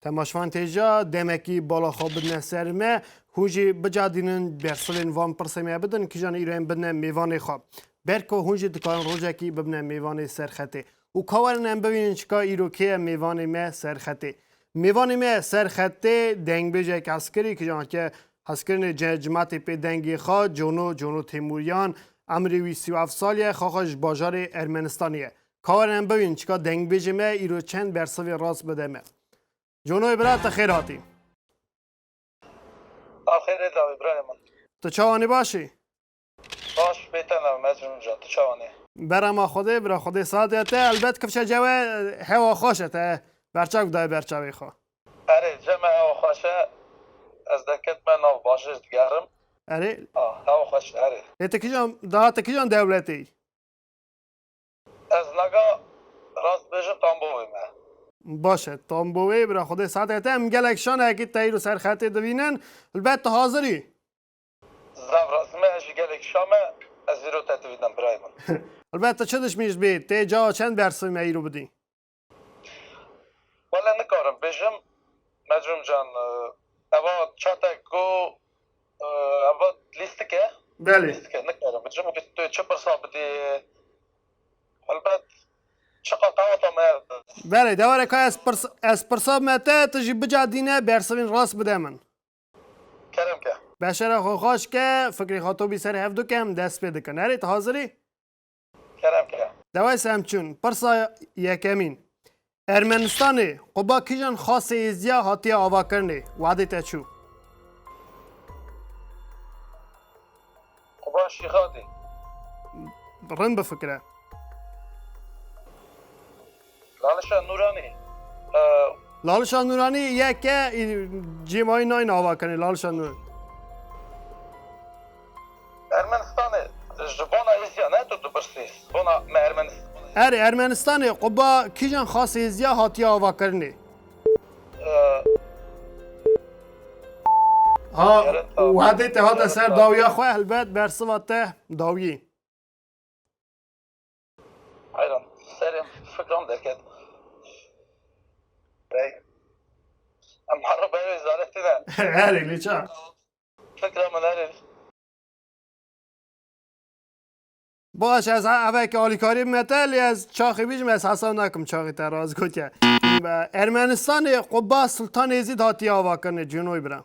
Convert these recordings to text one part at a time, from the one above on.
Temaşvan têja demekî bala xwe bidine ser me, hûn jî bicadînin bersilên van pirsê me bidin kîjan îro em bidine mêvanê xwe. Berko hûn jî dikarin rojekî bibine mêvanê serxetê. Û ka werin em bibînin çika îro kê ye mêvanê me serxetê. Mêvanê me serxetê dengbêjek eskerî kîjan ke hezkirinê cimatê pê dengê xwe cono cono Têmûriyan emrê wî sî û heft sal ye xaxa ji bajarê Ermenistanê ye. Karen em bivînin çika dengbêjê me îro çend bersivê rast bide me. Conoyê bira te xêr hatî. Axêrê dawî birayê min. Tu çawanî başî? Baş bêten em ez min can tu çawanî? Berama Xwedê bira Xwedê saetê ya te elbet kifşe cewe hewa xweş e te berçav dayê berçavê xwe. Erê ceme hewa xweş e ez deketime nav bajêr digerim. Erê. A hewa xweş e erê. Lê tu kijan dahate kijan dewletê yî? Ez naga rast bêjim tambowê me. Baş e tambowê bira xwedê saetê te em gelek şaneyekî teyr û serxetê divînin li ber te hazir î. Zaf rast me ez jî gelek şa me ez îro te divînim birayê min. Li ber te çi dişmî ji bê tê cawa çend bersivê me îro bidî. Wele nikarim bêjim Mecrum can eva çatek ku eva lîstik e lîstik e nikarim bêjim û tu çi pirsa bidî helbet çi qetewata me Belê dewere ka ez pirsa ez pirsa me te tu jî bicadîne bersivîn rast bide min. Kerem ke. Beşera xwe xweş ke fikrê xwe tobî ser hevdû ke em dest pê dikin. Erê tu hazir î? Kerem ke. Dewes em çûn pirsa yekemîn. Ermenistanê quba kijan xasê êzdiya hatiye avakirinê wadê te çû? Quba şîxadê. Rin bifikire. Lalişa Nûranî Lalişa Nûranî ye ke cê mayî nayne ava kenê Lalişa Nûranî. Ermenistanê ji bona êzîya ne tu dipirsî bona me Ermenîs. Erê Ermenistanê quba kîjan xas êzîya hatiye avakirinê? Ha Wehedê te hate ser dawiya xwe helbet bersiva te dawiyê. Hayran, serem fikran derket. Bey, em harra bey ve zareti ne. Herê ne ça. Fikra min herê. Baş ez eve ki alîkarî me te lê ez çaxê bîjim ez hesa nakim çaxê te raz gotiye. Ermenistanê Qubba Sultan Êzîd hatiye avakirinê cînoy bira.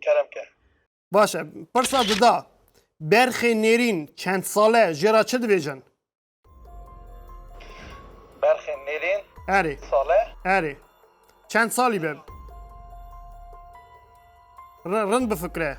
Kerem ke. Baş e. Pirsa dida. Berxê nêrîn çend sale jê ra çi dibêjin? Berxê nêrîn Erê. sale Erê. Çend salî be? Rin bifikre.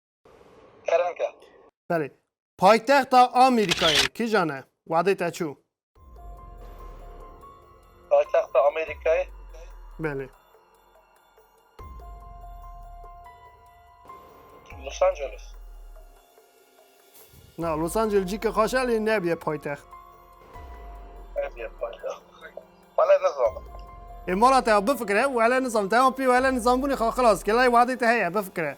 Kerem ke. Belê. Paytexta Amerîkayê kijan e? Wadê te çû. Paytexta Amerîkayê? Belê. Los Angeles. Na, Los Angeles cî ke xaş e lê nebye paytext. Nebye paytext. Wele nizanim. Ê mala te bifikire, wele nizanim. Te an pê wele nizanbûnê xwe xilas ke lay wadê te heye bifikire.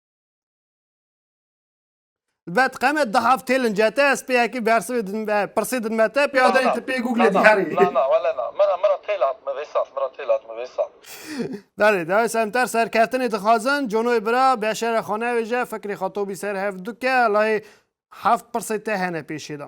Vet qeme da haftê lincete ez pê yekî bersivê din be pirsê din me te pê adanê ti pê google diyarê. Na na wele na mera mera têl hat mi vêsal mera têl hat mi vêsal. Berê dayê semter serkeftinê dixwazin conoyê bira beşere xwe nevêje fikrê xwe tobî ser hev duke layê heft pirsê te hene pêşê de.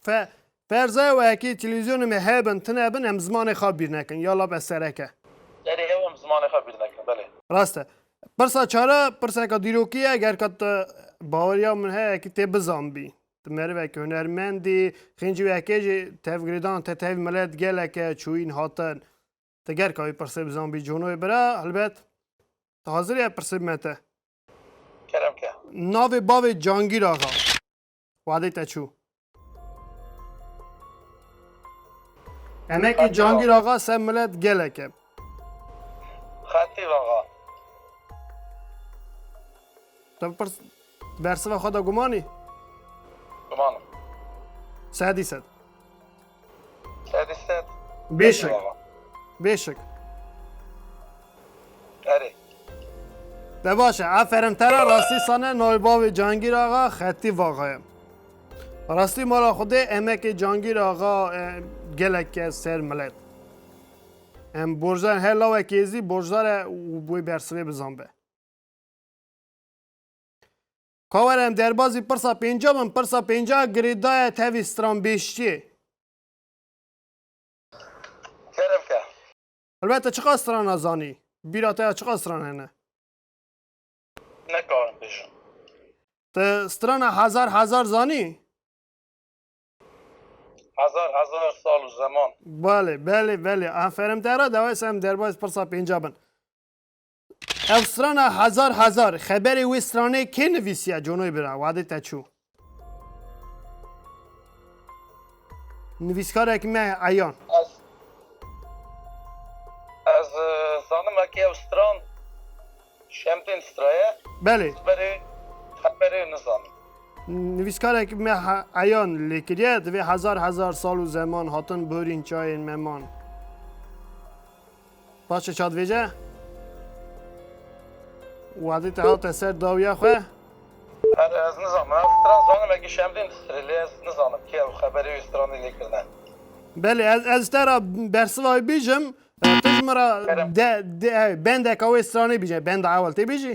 Fe, Ferza ew ekê televîzyonê me hebin, tune bin em zimanê xwe bîr nekin. Ya lab ez serek e. Erê ew em zimanê xwe bîr nekin belê. Rast e. Pirsa çar e, pirseka dîrokî ye, ger ka tu baweriya min heye ekî tê bizanbî. Tu merivekî hunermendî, xêncî wê ekê jî tevgirêdana te tevî milet gelek e, çûyîn hatin. Tu ger ka wî pirsê bizanbî cono wê bira, helbet tu hazir î ev pirsê bime te. Kerem ke. Navê bavê Cangîr Axa. Wadê te çû. Emekê Cangîr Axa se milet gelek e. Xetîb Axa. Te bipirs bersiva xwe da gumanî? Gumanim. Sedî sed. Sedî sed. Bêşek. Bêşek. Erê. Te baş e. Aferin te ra rastî sane navê bavê Cangîr axa xetî vaxa ye. Rastî mala xwedê emekê Cangîr axa gelek e ser milet. Em borcdar her lawek êzî borcdar e wê bersivê bizan be. Ka were em derbazî pirsa pênca bin, pirsa pênca girê daye tevî stranbêjtiyê. Kerem ke. Elbet te çiqas strana zanî? Bîra te ya çiqas stran hene? Nekarim bêjim. Te strana hezar hezar zanî? Hezar hezar sal û zeman. Belê, belê, belê. Aferim te re dewes em derbaz pirsa pênca bin. Ev strana hezar hezar xeberê wê stranê kê nivîsiye conoy bira wadê te çû. Nivîskarek me eyan. Ez Ez zanim eke ew stran Şemdin straye. Belê. Xeberê xeberê nizanim. Nivîskarek me eyan lê kiriye divê hezar hezar sal û zeman hatin borîn çayên meman. Paşê çadvêje Wadî te hate ser dawiya xwe. Her ez nizanim. Ez stran zanim eke şemdîn di sirê lê ez nizanim kê ew xeberê wî stranî lê kirine. Belê ez ez te ra bersiva wî bîjim tu ji min ra de bendeka wê stranê bîje benda ewel tê bîjî?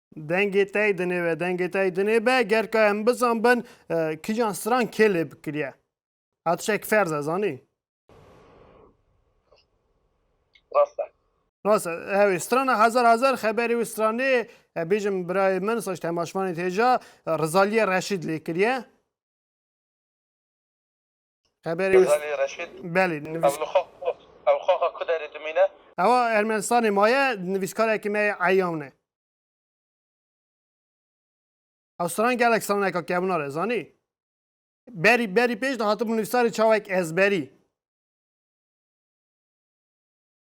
Dengê tey dinê ve dengê tey dinê be ger ka em bizan bin kijan stran kê lê bikiriye hatişek ferz e zanî Rast hewê strana hezar hezar xeberê wî stranê bêjim birayê min saç temaşvanê têja Rizaliye Reşîd lê kiriye. Heberê wis- Gazalî Reşîd Belê, ew nivîs- li xwe ew li xwe xwe ku derê dimîne? Ewa Ermenistanê maye, nivîskarekî me yê Eyawn e. Ew stran gelek straneka kevnar e, zanî? Berî berî pêş de hatibû nivîsarê çawek ezberî.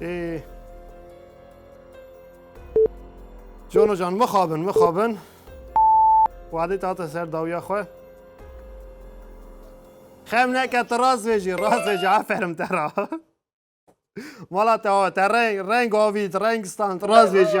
Ee. Jono can mixabin mixabin. Wadê tate ser dawiya xwe. Xem neke tu rast vêjî rast vêjî aferin te ra. Mala te awe te reng reng avît reng stand rast vêjî.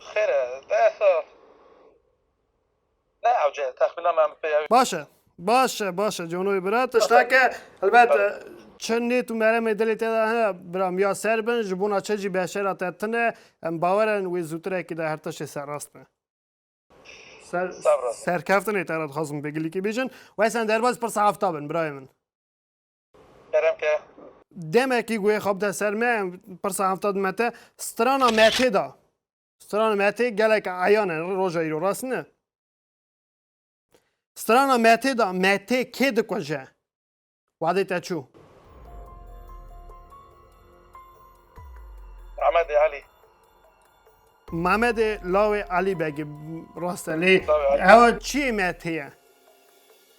Xêr e, desa ne ewce texmîna me em pê ew. Baş e, baş e, baş e canoyê bira. Tişteke helbet çi nêt û meremê dilê te de hene biram ya ser bin ji bona çi jî beşera te tin e. Em bawer in wê zûtirekî de her tiştê serrast be. Ser, Sabra. serkeftinê te re dixwazim pê gilîkî bêjin. Wesen derbas pirsa hefta bin birayê min. Kerem ke. Demekî guê xwe bide ser me pirsa hevta di me te strana metê da. Strana metê gelek eyan e roja îro rast ne? Strana metê da metê kê dikuje? Wadê te çû. Mehmedê Elî. Mehmedê lawê Elî Begî rast e lê ew çiyê metê ye?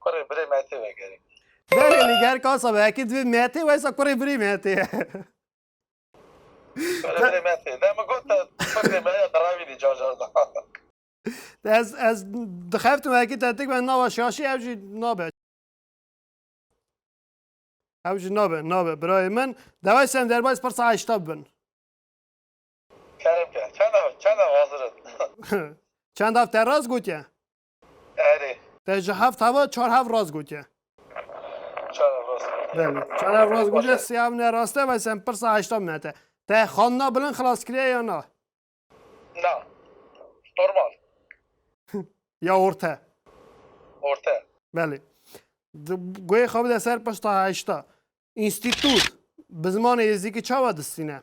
Kurê birê metê vegerê. Berê liger kasa be ekî divê metê weysa kurê birê metê ye. Kurê birê metê. Demi got te kurê me ya diravînî car car da. Ez ez dixeftim ekî tetik ben nava şaşî ev jî nabe. Ew jî nabe nabe birayê min. Dewayê sem derbayê pirsa heşta bin. Kerem ke. Çanda çanda vazirin. Çend hav te rast gotiye? Erê. Te ji heft hava çar hav rast gotiye. Çar hav rast gotiye. Belê. Çar hav rast gotiye sê hav ne rast e ve sem pirsa heşta min hete. Te xanina bilind xilas kiriye ya na? Na. Normal. ya orte. Orte. Belê. Goyê xwe bide ser pirsa heşta. Înstîtût bi zimanê êzîkî çawa distîne?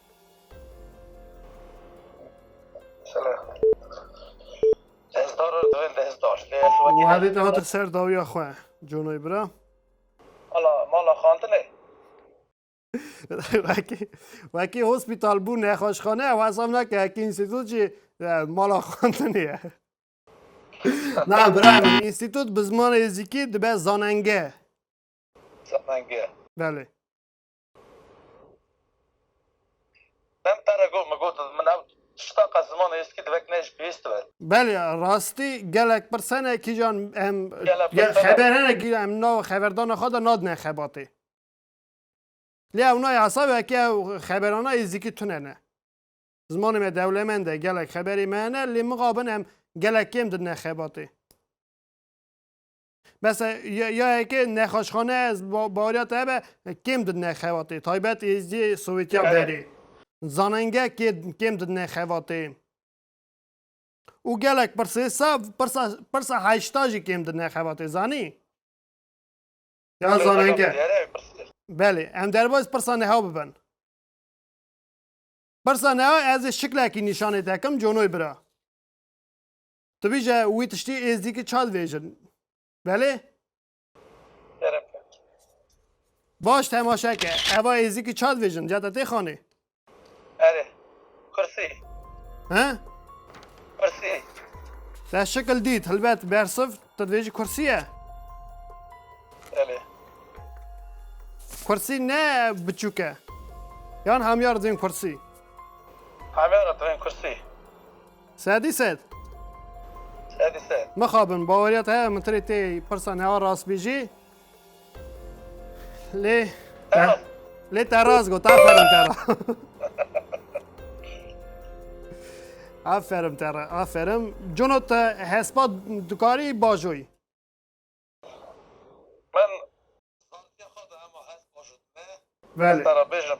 û herê te hatin ser dawiya xwe conoy bira Ala mala xantine wekî wekî hospîtal bû nexweşxane ew hesab nake hekî înstîtût jî mala xantinê ye na bira min înstîtût bi zimanê êzîkî dibe zanenge zanenge belê Belê rastî gelek pirsene kîjan em xeberene kîjan em nav xeberdana xwe de nadine xebatê. Lê ew nayê hesab e ke ew xeberana êzîkî tune ne. Zimanê me dewlemend e gelek xeberê me hene lê mixabin em gelek kêm didine xebatê. Bes e ya ya heke nexaşxane ez ba baweriya te hebe kêm didine xebatê taybet êziyê Sowêtiya Evet. berê. Zanenge kê kêm didine xebatê. Û gelek pirsê sa pirsa pirsa heşta jî kêm didine xebatê zanî? Ya Pirsa zanenge. xebatê diyare ev pirsê. Belê em derbas pirsa neha bibin. Pirsa neha ez ê şiklekî nîşanê te kim conoy bira. Tu bîje wî tiştî êzdîkî çal vêjin. Belê? Kerem kir. Baş temaşe ke. Eva êzdîkî çal vêjin. Ca te tê xanê. Erê. Kursî. He? Kursî. Te şekil dît. Hilbet bersiv tu dibêjî kursî ye. Belê. Kursî ne biçûk e. Yan hamyar dibên kursî. Hamyara dibên kursî. Sedî sed. Sedî sed. Mixabin baweriya te heye min tirê tê pirsa newa rast bî jî. Lê lê te rast got aferin te ra. Aferin te ra aferin. Cuno te hespa dikarî bajoyî. Min Belê. Te re bêjim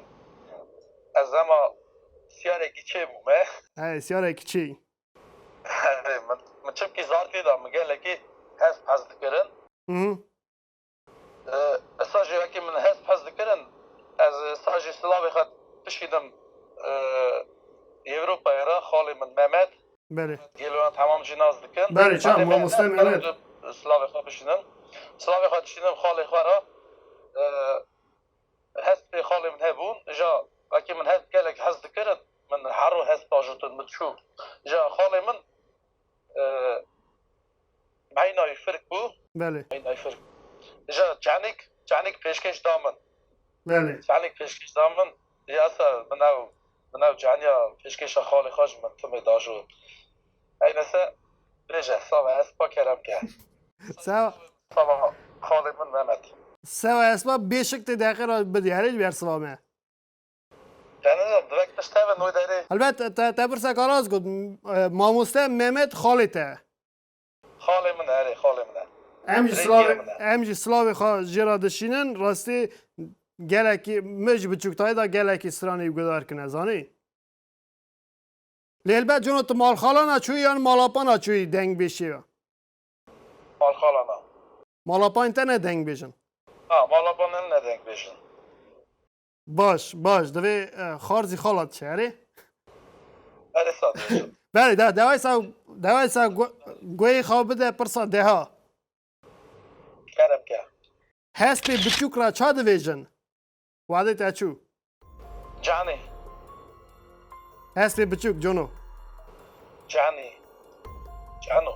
ez hema sîyarekî çê bûme. Eyê sîyarekî çê yî. Erê min min çimkî zarfî de min gelekî hesp hez dikirin. Issa jî wekî min hesp hez dikirin ez issa jî silavê xwe dişînim Yewropayê re xalê min Memed. Belê. Gelê wan temam jî nas dikin. Belê çav Belê mehmet mamoste bero mehmet. tu silavê xwe bişînim. Silavê xwe dişînim xalê xwe re. Eh, Hespê xalê min hebûn. Ja wekî min hesp gelek hez dikirin. Min her ro hesp ajotin min çû. Ja xalê min eh, Eyna wî firk bû. Belê. Eyna wî firk bû. Ji çanik, çanik pêşkêş da min. Belê. Çanik pêşkêş da min. Diyasa min ew, min ew caniya pêşkêşa xalê xwe ji min timê da jo. Eyna se bêje, sava espa kerem ke. Sava. Sava xalê min Mehmet. Sava espa bêşik tê deqê ra bidiyare ji ber siva me. Helbet te pirseka rast got. Mamoste Mehmet xalê te ye? Xalê min e, erê xalê min e. Em jî silavê em jî silavê xwe jê re dişînin. Rastî gelekî min ji biçûktayî de gelekî stranê wî guhdar kine zanî. Lê helbet cona tu malxalana çûyî yan malapana çûyî deng bê şêve? Malxalana. Malapanên te ne deng bêjin? Na, malapanên min ne deng bêjin. Baş, baş. Divê e, xar zî xalat çi erê? Her êsa diêşim. Belê de dewayê sa dewayê sa goyê xaw bide pirsa deha. Kerem ke. Hespê biçûk ra ça divêjin? Wadê te çû. Canê. Hespê biçûk cono. Canê. Cano.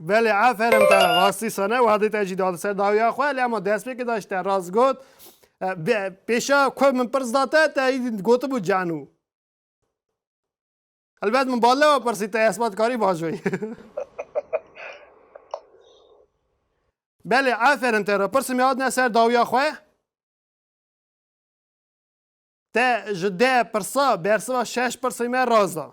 Belê aferin te rastî sane wadê te jî da li ser dawiya xwe lê ema destpêkê de jî te rast got pêşa ku min pirs da te te gotibû canû Elbet min bal newe pirsî te esbatkarî vajoyî Belê aferin te re pirsim ya hatine ser dawiya xwe te ji deh pirsa bersiva şeş pirsê me rast da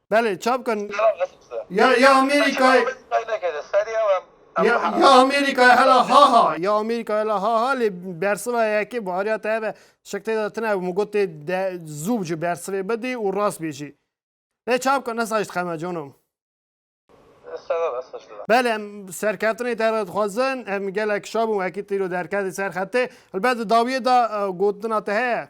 Belê ça bikin. Ya ya Amerîkayê ya ya Amerîkayê hela ha ha ya Amerîkayê hela ha ha lê bersiva yekê bariya te hebe şik tê de tine min got tê de zû bi ji bersivê bidî û rast bê jî. Lê ça bikin esa ji dixeme canom. Belê em serkeftinê te re dixwazin em gelek şabûn wekî tîro derketê ser xetê. Helbet di dawiyê de gotina te heye.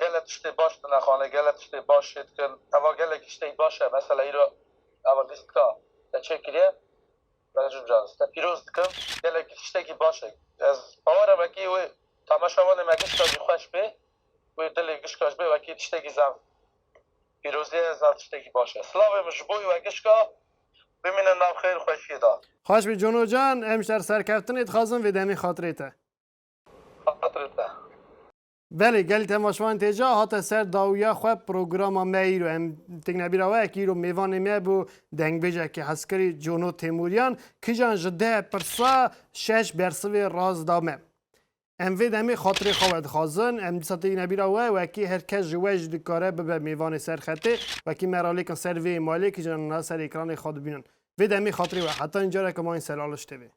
Gelek tiştê baş dinexane, gelek tiştê baş jê dikin. Heva gelekî tiştê baş e. Mesela îro heva lîstika te çêkiriye, me ji mijarê te pîroz dikim. Gelekî tiştekî baş e. Ez bawer e wekî wê tameşa wanê me gişka jî xweş bê, wê dilê gişka jî bê wekî tiştekî zaf pîrozî ye, zaf tiştekî baş e. Silavê min ji bo wê gişka bimîne nav xêr xweşiyê da. Xweş bî Cono can, hemşer serkeftinê dixwazim vê demê xatirê te. Xatirê te. Belê gel tema şivan tê ca hate ser dawiya xwe programa me îro em tikne bîra we ki îro mêvanê me bû dengbêjekî heskirî Cono Têmûryan kijan ji deh pirsa şeş bersivê rast da me. Em vê demê xatirê xwe wedixwazin em dîsa têkine bîra we wekî her kes ji we jî dikare bibe mêvanê ser xetê wekî me ralêkin ser vê êmalê kijan na ser êkranê xwe dibînin. Vê demê xatirê we heta încareke ma yên selaliş tê vê.